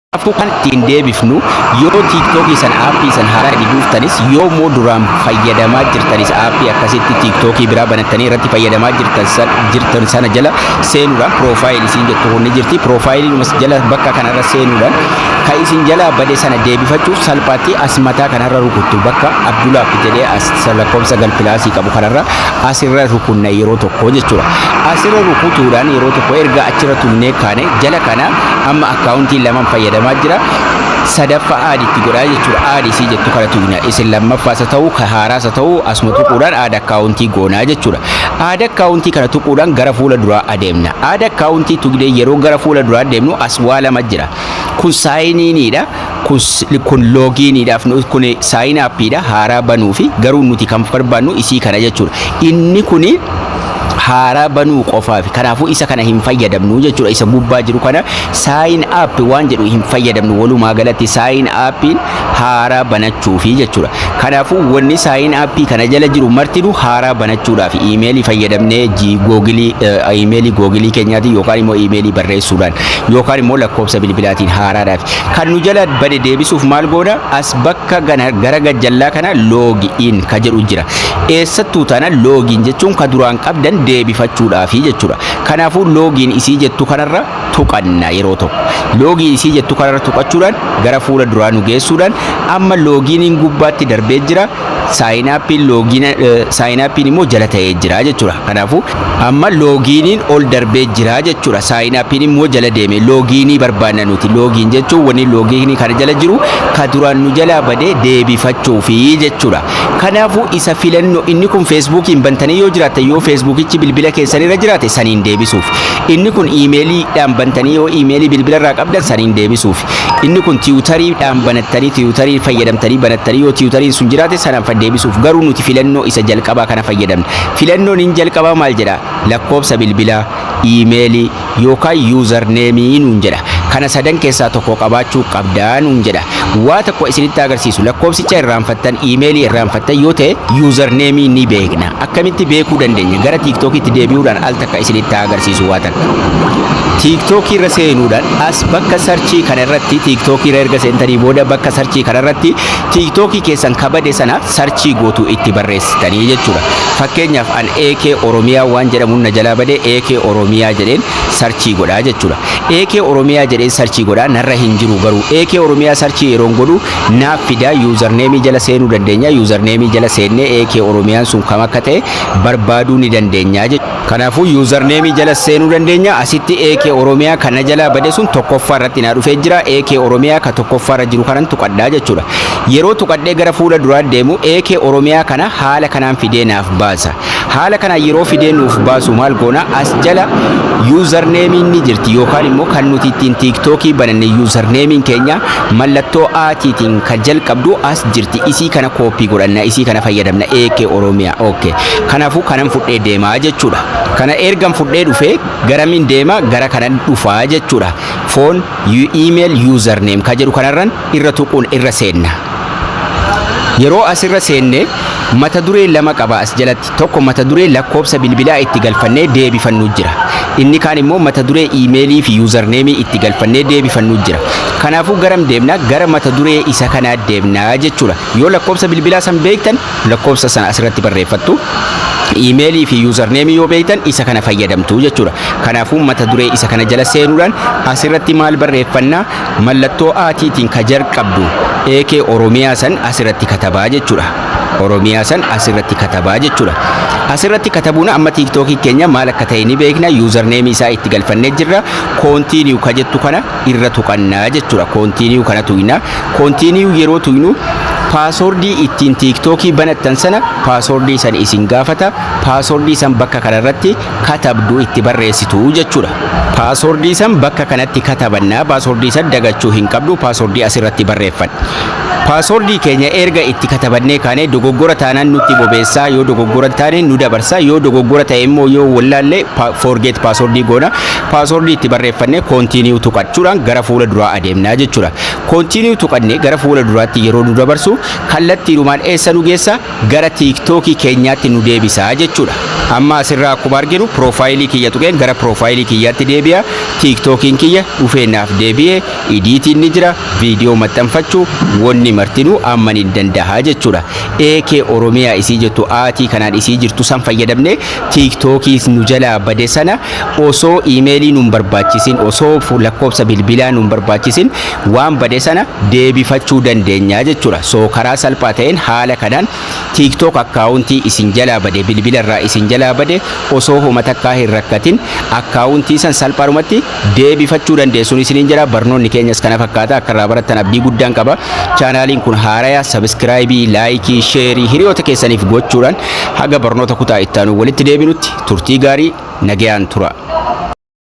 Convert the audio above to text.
Kanaafuu kan ittiin deebifnu yoo tiiktookii san aappii san haaraa itti buuftanis yoo immoo duraan fayyadamaa jirtanis aappii akkasitti tiiktookii biraa banattanii irratti fayyadamaa jirtan san jirtan sana jala seenuudhaan piroofaayil isin jettu kun ni jirti piroofaayiliinumas jala bakka kanarra seenuudhaan kan isin jalaa bade sana deebifachuuf salphaatti as mataa kanarra rukuttu bakka abdulaaf jedhee as lakkoofsa galpilaasii qabu kanarra asirra rukunna yeroo tokko jechuudha asirra rukutuudhaan yeroo tokko erga achirra tunnee kaane jala kana amma Kaawuntiin lamaan fayyadamaa jira. Sadaffaa aad itti godhaa jechuudha. Aad isii jettu kana tuqna. Isin lammaffaas haa ta'u, ka haaraas haa ta'u asuma tuquudhaan aad akkaawuntii goonaa jechuudha. Aad akkaawuntii kana tuquudhaan gara fuula duraa adeemna. Aad akkaawuntii tuqnee yeroo gara fuula duraa deemnu as waa lama jira. Kun saayiniiniidha. kun loogiiniidhaaf kun saayin appiidha haaraa banuu fi garuu nuti kan barbaannu isii kana jechuudha. Inni kun haaraa banuu qofaaf kanaafuu isa kana hin fayyadamnu jechuudha isa gubbaa jiru kana saayin app waan jedhu hin fayyadamnu walumaa galatti saayin appiin haaraa banachuufi jechuudha. Kanaafuu wanni saayin appii kana jala jiru martinu haaraa banachuudhaaf iimeelii fayyadamnee googilii iimeelii googilii keenyaatiin yookaan immoo iimeelii barreessuudhaan yookaan immoo lakkoofsa bilbilaatiin haaraadhaaf Kan nu jala bade deebisuuf maal goona? As bakka gana gara gajjallaa kana loogi in ka jedhu jira. Eessattuu tana loogiin jechuun ka duraan qabdan deebifachuudhaafi jechuudha. Kanaafuu loogiin isii jettu kanarra tuqanna yeroo tokko. Loogii isii jettu kanarra tuqachuudhaan gara fuula duraa nu geessuudhaan amma loogiiniin gubbaatti darbee jira. saayinaappiin loogiin saayinaappiin immoo jala ta'ee jira jechuudha. Kanaafuu amma loogiiniin ol darbee jira jechuudha. Saayinaappiin immoo jala deeme loogiinii barbaanna nuti. Loogiin jechuun wanni loogiinii kana jala jiru ka duraan nu jalaa badee deebifachuufi jechuudha. Kanaafuu isa filannoo inni kun feesbuukiin bantanii yoo jiraattan yoo feesbuukichi bilbila keessanirra jiraate saniin deebisuuf. Inni kun iimeeliidhaan bantanii yoo iimeelii bilbilarraa qabdan saniin deebisuuf. Inni kun tiwutarii dhaan banattanii tiwutarii fayyadamtanii banattanii yoo tiwutariin sun jiraate sana deebisuuf garuu nuti filannoo isa jalqabaa kana fayyadamne. Filannoon inni jalqabaa maal jedha? Lakkoobsa bilbilaa, iimeelii yookaan yuuzar neemii nuun jedha. Kana sadan keessaa tokko qabaachuu qabda nuun jedha. Waa tokko isinitti agarsiisu lakkoobsicha irraanfattan iimeelii irraanfattan yoo ta'e yuuzar neemii ni beekna. Akkamitti beekuu dandeenya? Gara TikTokitti deebi'uudhaan al takka isinitti haa agarsiisu waa takka. TikTok irra seenuudhaan as bakka sarchii kana irratti TikTok irra erga seentanii booda bakka sarchii kana irratti TikTok keessan kabade sana sarchii gootu itti barreessitanii jechuudha. Fakkeenyaaf an AK Oromiyaa waan jedhamuun na jalaa bade AK Oromiyaa jedheen sarchii godhaa jechuudha. AK Oromiyaa jedheen sarchii godhaa narra hin jiru garuu AK Oromiyaa sarchii yeroon godhu naaf fidaa username jala seenuu dandeenya username jala seennee AK Oromiyaan sun kam akka ta'e barbaaduu ni dandeenya jechuudha. Kanaafuu username jala seenuu dandeenya asitti AK Oromiyaa kan na jalaa bade sun tokkoffaa irratti naa dhufee jira AK Oromiyaa ka tokkoffaa irra jiru kanan tuqadhaa jechuudha. Yeroo tuqadhee gara fuula duraa deemu AK Oromiyaa kana haala kanaan fidee naaf baasa. Haala kanaan yeroo fidee nuuf baasu maal goona as jala yuuzarneemiin ni jirti yookaan immoo kan nuti ittiin tiiktookii bananne yuuzarneemiin keenya mallattoo aatiitiin kan jalqabdu as jirti isii kana kooppii godhanna isii kana fayyadamna eekee oromiyaa ookee kanaafuu kanan fudhee deemaa jechuudha kana ergan fudhee dhufee garamiin deema gara kanan dhufaa jechuudha foon iimeel yuuzarneem ka jedhu kanarran irra tuquun irra seenna. Yeroo as irra seenne mata duree lama qaba as jalatti. Tokko mata duree lakkoobsa bilbilaa itti galfannee deebifannu jira. Inni kaan immoo mata duree email fi username itti galfannee deebifannu jira. Kanaafuu garam deemna? Gara mata duree isa kanaa deemna jechuudha. Yoo lakkoobsa bilbilaa san beektan lakkoobsa sana as irratti barreeffattu. Email fi username yoo beektan isa kana fayyadamtu jechuudha. Kanaafuu mata duree isa kana jala seenuudhaan as irratti maal barreeffanna? Mallattoo A tiitiin ka jarqabdu AK Oromiyaa san as irratti katabaa jechudha. Oromiyaa san as irratti katabaa jechudha. As irratti katabuun amma TikTok keenya maal akka ta'e ni beekna. User name isaa itti galfannee jirra. Continue ka jettu kana irra tuqanna jechudha. Continue kana tuyna. Continue yeroo tuynu paaswordii ittiin TikTok banattan sana paaswordii san isin gaafata. Paaswordii san bakka kana irratti katabdu itti barreessitu jechuudha. Paaswordii san bakka kanatti katabanna. Paaswordii san dagachuu hin qabdu. Paaswordii asirratti barreeffanna. Paaswordii keenya erga itti katabannee kaanee dogoggora taanaan nutti bobeessaa yoo dogoggora taane nu dabarsa yoo dogoggora ta'e immoo yoo wallaallee forget paaswordii goona. Paaswordii itti barreeffannee continue tuqachuudhaan gara fuula duraa adeemnaa jechuudha. Continue tuqannee gara fuula duraatti yeroo nu dabarsu kallattiidhumaan eessa nu geessa? gara tiktoki keenyaatti nu deebisa jechuudha. Amma asirraa akkuma arginu piroofaayilii kiyya tuqeen gara piroofaayilii kiyyaatti deebi'a. Tiiktokiin kiyya dhufee naaf deebi'e. Idiitiin ni jira, viidiyoo maxxanfachuu, wonni martinuu amma nin dandaha jechuudha. AK Oromiyaa isii jettu aatii kanaan isii jirtu san fayyadamne tiiktokii nu jalaa bade sana osoo iimeelii nun barbaachisin, osoo lakkoofsa bilbilaa nun barbaachisin waan bade sana deebifachuu dandeenya jechuudha. So karaa salphaa ta'een haala kanaan TikTok akkaawuntii isin jalaa bade bilbila irraa isin jalaa bade osoo homa takkaa hin rakkatin akkaawuntii san salphaadhumatti deebifachuu dandeessuun isiniin jira. Barnoonni keenyas kana fakkaata akka irraa barattan abdii guddaan qaba. Chaanaaliin kun haaraya sabiskiraayibii, laayikii, sheerii hiriyoota keessaniif gochuudhaan haga barnoota kutaa itti aanu walitti deebinutti turtii gaarii nagayaan tura.